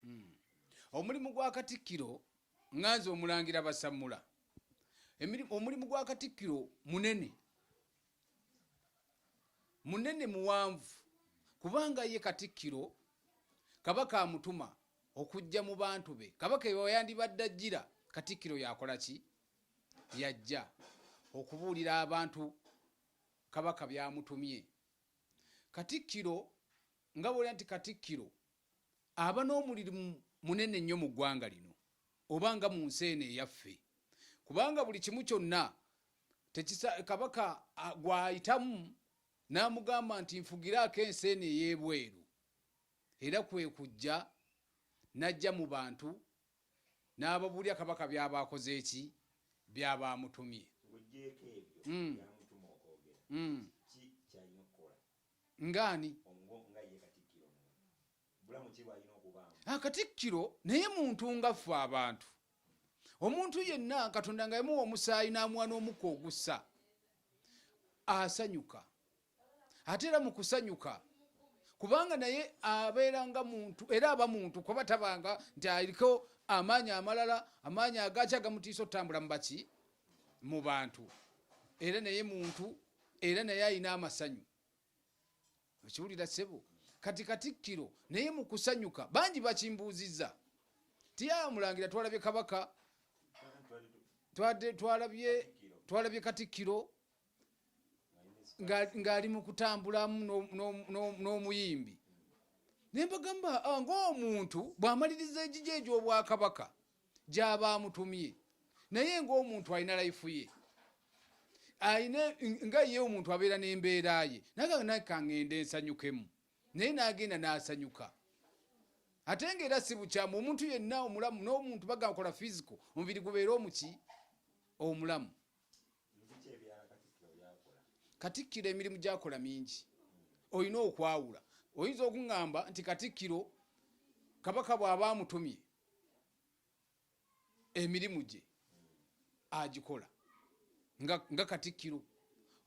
Hmm. Omulimu gwa Katikkiro nga nze Omulangira Basammula, omulimu gwa Katikkiro munene, munene muwanvu kubanga ye Katikkiro Kabaka amutuma okujja mu bantu be. Kabaka ewayandibadde ajjira, Katikkiro yakola ki? Yajja okubuulira abantu Kabaka byamutumye. Katikkiro nga bwolya nti Katikkiro aba n'omulirimu munene nnyo mu ggwanga lino oba nga mu nsi eno eyaffe kubanga buli kimu kyonna kabaka gw'ayitamu n'amugamba nti nfugiraako ensi eno ey'ebweru era kwe kujja n'ajja mu bantu n'ababuulira kabaka byaba akoze eki byaba amutumye hmm. hmm. nga ani ah, katikkiro naye muntu nga ffe abantu omuntu yenna katonda nga yamuwa omusaayi n'amuwa n'omukka ogussa asanyuka ate era mu kusanyuka kubanga naye abeera nga muntu era aba muntu kuba tabanga nti aliko amaanyi amalala amaanyi agaaki agamutiisa okutambula mu baki mu bantu era naye muntu era naye alina amasanyu okiwulira sebo kati katikkiro naye mu kusanyuka bangi bakimbuuzizza tiyamulangira twalabye kabaka twalabye katikkiro ng'ali mu kutambulamu n'omuyimbi naye mbagamba ah, ng'omuntu bw'amaliriza egigyo egy'obwakabaka gyaba amutumye naye ngaomuntu alina laifu ye alina nga ye omuntu abeera n'embeera ye nakanakangende nsanyukemu naye nagenda nasanyuka ate nga era sibukyamu omuntu yenna omulamu n'omuntu bagakola fisiko omubiri gubeere omuki omulamu katikkiro emirimu gyakola mingi olina okwawula oyinza okuŋŋamba nti katikkiro kabaka bw'aba amutumye emirimu gye agikola nga katikkiro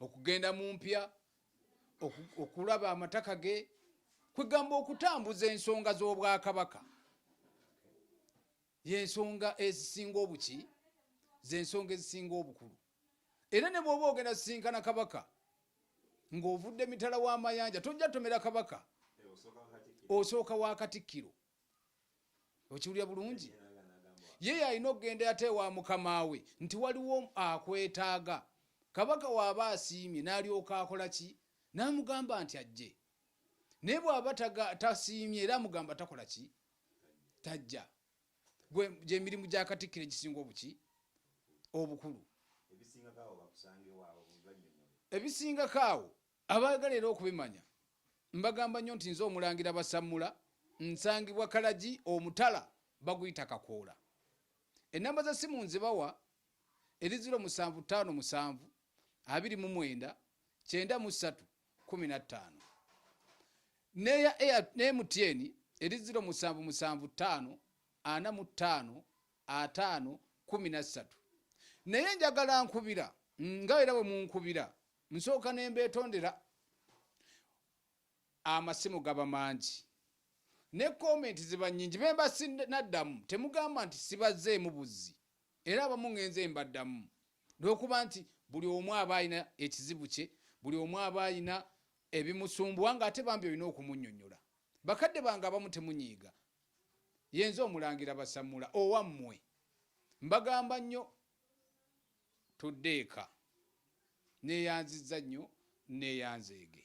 okugenda mu mpya okulaba amataka ge kwegamba okutambuza ensonga z'obwakabaka yensonga ezisinga obuki zensonga ezisinga obukulu era ne bwoba ogenda sisinkana kabaka ng'ovudde mitala w'amayanja tojja tomera kabaka osooka wa katikkiro okiwulira bulungi ye yalina okugenda ate ewa mukama we nti waliwo akwetaaga kabaka waaba asiimye n'alyoka akola ki n'amugamba nti ajje naye bw'aba tasiimye era amugamba takola ki tajja gwe gyemirimu gya katikkiro egisinga obuki obukulu ebisingako awo Abaagala era okubimanya mbagamba nnyo nti nze Omulangira Basammula nsangibwa Kalagi omutala baguyita Kakoola. Ennamba za ssimu nzibawa eri ziro musanvu ttaano musanvu abiri mu mwenda kyenda mu ssatu kumi na ttaano neya ne MTN eri ziro musanvu musanvu ttaano ana mu ttaano ataano kumi na ssatu naye njagala nkubira nga era bwe munkubira Nsooka ne mbeetondera. Amasimu gaba mangi ne kkoomenti ziba nnyingi. Be mba sinnaddamu temugamba nti sibazzeemu buzzi era abamu ŋŋenze mbaddamu lw'okuba nti buli omu aba alina ekizibu kye, buli omu aba alina ebimusumbuwa ng'ate bambi olina okumunnyonnyola. Bakadde bange abamu temunyiiga. Yenze Omulangira Basammula owammwe mbagamba nnyo. Tudde eka. Neeyanzizza nnyo nneeyanzeege.